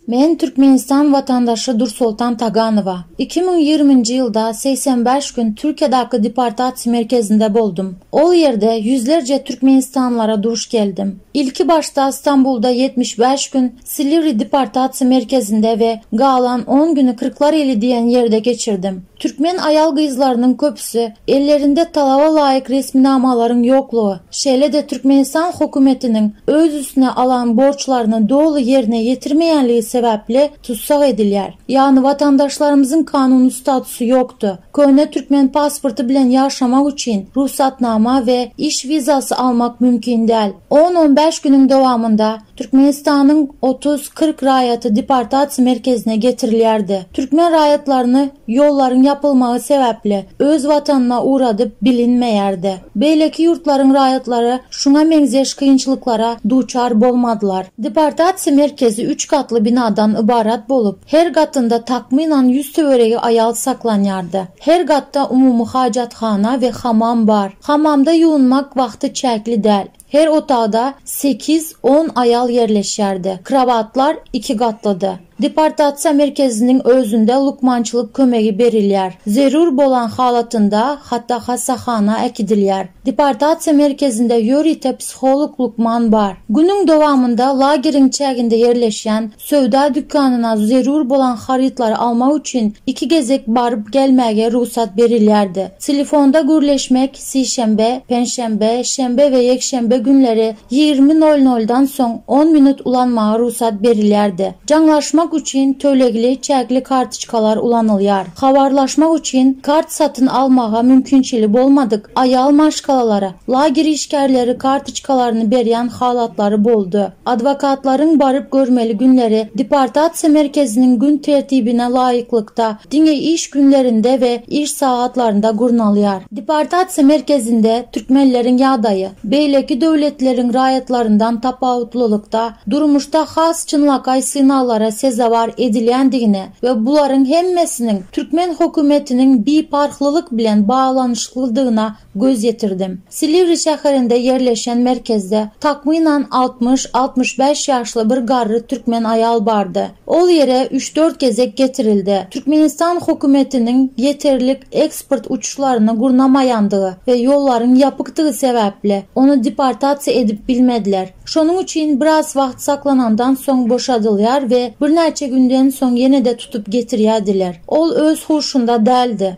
Men Türkmenistan watandaşy Dursoltan Taganowa. Iki müň ýigriminji ýylda segsen bäş gün Türkiýadaky deportasiýa merkezinde boldum. Ol ýerde ýüzlerje türkmenistanlylara duş geldim. Ilki başda Stambulda ýetmiş bäş gün, Silivri deportasiýa merkezinde we galan on güni Kyrklar ili diýen ýerde geçirdim. Türkmen aýal-gyzlarynyň köpüsi ellerinde talaba laýyk resminamalaryň ýoklugy, şeýle-de Türkmenistan hökümetiniň öz üstüne alan borçlaryny doly ýerine ýetirmeýänligi sebäpli tussag edilýär. Ýagny watandaşlarymyzyň kanuny statusy ýokdy. Köne türkmen pasporty bilen ýaşamak üçin rugsatnama we iş wizasy almak mümkin däl. On-on bäş günüň dowamynda Türkmenistanyň otuz, kyrk raýaty deportasiýa merkezine getirilýärdi. Türkmen raýatlaryny ýollaryň ýapylmagy sebäpli öz watanyna ugradyp bilinmeýärdi. Beýleki ýurtlaryň raýatlary şuňa meňzeş kynçylyklara duçar bolmadylar. Deportasiýa merkezi üç gatly binadan ybarat bolup, her gatynda takmynan ýüz töweregi aýal saklanýardy. Her gatda umumy hajathana we hamam bar. Hamamda ýuwunmak wagty çäkli däl. Her otagda sekiz, on aýal ýerleşýärdi. Krowatlar iki gatlydy. Deportasiýa merkeziniň özünde lukmançylyk kömegi berilýär. Zerur bolan halatynda hata hassahana äkidilýär. Deportasiýa merkezinde ýörite psiholog-lukman bar. Günüň dowamynda lageriň çäginde ýerleşýän Söwda dükanyna zerur bolan harytlary almak üçin iki gezek baryp gelmäge rugsat berilýärdi. Telefonda gürleşmek sişenbe, penşenbe, şenbe we ýekşenbe günleri ýigrimi nol noldan soň on minut ulanmaga rugsat berilýärdi. Jaňlaşmak üçin tölegli çäkli kartoçkalar ulanylýar. Habarlaşmak üçin kart satyn almaga mümkinçili bolmadyk aýal maşgalalara Lager işgärleri kartoçkalaryny berýän halatlary boldy. Adwokatlaryň baryp görmeli günleri deportasiýa merkeziniň gün tertibine laýyklykda, diňe iş günlerinde we iş sagatlarynda gurnalýar. Deportasiýa merkezinde türkmenleriň ýagdaýy, beýleki döwletleriň raýatlaryndan tapawutlylykda, durmuşda has çynlakaý synaglara sezewar edilýändigini we bularyň hemmesiniň türkmen hökümetiniň biparhlylyk bilen baglanyşyklydygyna göz ýetirdim. Silivri şäherinde ýerleşen merkezde takmynan altmyş-altmyş bäş ýaşly bir garry türkmen aýal bardy. Ol ýere üç-dört gezek getirildi. Türkmenistan hökümetiniň ýeterlik eksport uçuşlaryny gurnamaýandygy we ýollaryň ýapykdygy sebäpli, ony deportasiýa edip bilmediler. Şonuň üçin biraz wagt saklanandan soň boşadylýar we birnäçe günden soň ýene-de tutup getirýärdiler. Ol öz huşunda däldi.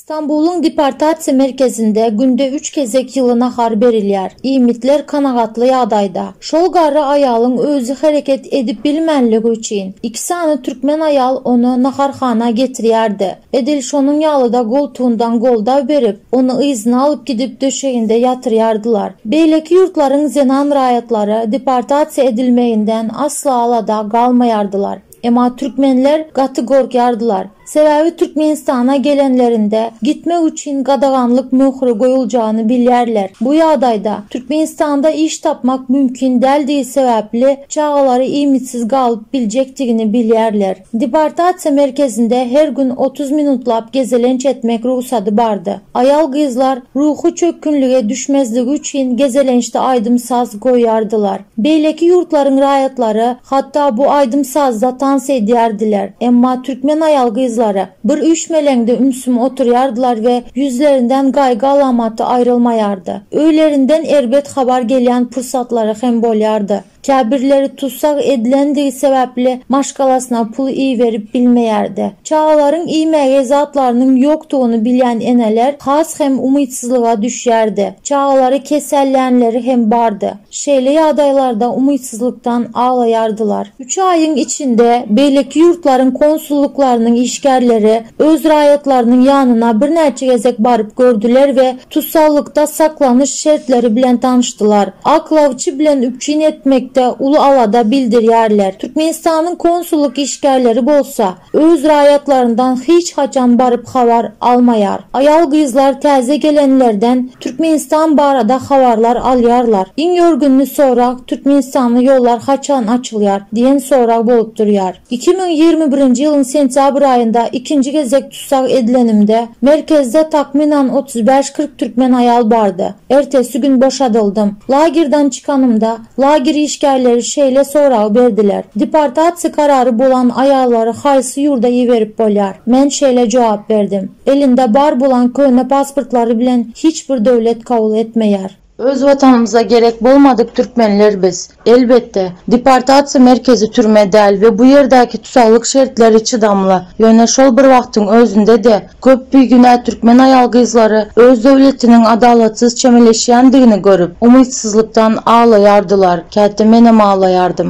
Stambulyň deportasiýa merkezinde günde üç gezek ýyly nahar berilýär. Iýmitler kanagatly ýagdaýda. Şol garry aýalyň özi hereket edip bilmänligi üçin, iki sany türkmen aýal ony naharhana getirýärdi. Edil şonuň ýaly-da goltugyndan goldaw berip, ony yzyna alyp gidip döşeginde ýatyrýardylar. Beýleki ýurtlaryň zenan raýatlary deportasiýa edilmeginden asla alada galmaýardylar. Emma türkmenler gaty gorkýardylar. Sebäbi Türkmenistana gelenlerinde gitmek üçin gadaganlyk möhri goýuljany bilýärler. Bu ýagdaýda Türkmenistanda iş tapmak mümkin däldigi sebäpli çagalary iýmitsiz galyp biljekdigini bilýärler. Deportasiýa merkezinde her gün otuz minutlap gezelenç etmek rugsady bardy. Aýal-gyzlar ruhy çökgünlige düşmezligi üçin gezelençde aýdym-saz goýýardylar. Beýleki ýurtlaryň raýatlary hatda bu aýdym-sazda tans edýärdiler, emma türkmen aýal-gyzlary bir üýşmeleňde ümsüm oturýardylar we ýüzlerinden gaýgy alamaty aýrylmaýardy. Öýlerinden erbet habar gelýän pursatlary hem bolýardy. Käbirleri tussag edilendigi sebäpli maşgalasyna pul iberip bilmeýärdi. Çagalaryň iýmäge zatlarynyň ýokdugyny bilýän eneler has hem umytsyzlyga düşýärdi. Çagalary kesellänleri hem bardy. Şeýle ýagdaýlarda umytsyzlykdan aglaýardylar. Üç aýyň içinde beýleki ýurtlaryň konsullyklarynyň işgärleri öz raýatlarynyň ýanyna birnäçe gezek baryp gördüler we tussaglyk-da saklanyş şertleri bilen tanyşdylar. Aklawçy bilen üpjün etmekde uly alada bildirýärler. Türkmenistanyň konsullyk işgärleri bolsa, ýok. Öz raýatlaryndan hiç haçan baryp habar almaýar. Aýal-gyzlar täze gelenlerden Türkmenistan barada habarlar alýarlar. Iň ýörgünli sorag Türkmenistanly ýollar haçan açylýar? diýen sorag bolup durýar. Iki müň ýigrimi birinji ýylyň sentýabr aýynda ikinji gezek tussag edilenimde, merkezde takmynan otuz bäş-kyrk türkmen aýal bardy. Ertesi gün boşadyldym. Lagerden çykanymda, Lager işgärleri şeýle sorag berdiler, Deportasiýa karary bolan aýallary haýsy ýurda iberip bolýar? Men şeýle jogap berdim, Elinde bar bolan köne pasportlary bilen hiç bir döwlet kabul etmeýär. Öz Watanymyza gerek bolmadyk türkmenler biz. Elbetde, deportasiýa merkezi türme däl we bu ýerdäki tussaglyk şertleri çydamly, ýöne şol bir wagtyň özünde-de Köp bigünä türkmen aýal-gyzlary öz döwletiniň adalatsyz çemeleşýändigini görüp, umytsyzlykdan aglaýardylar, käte menem aglaýardym.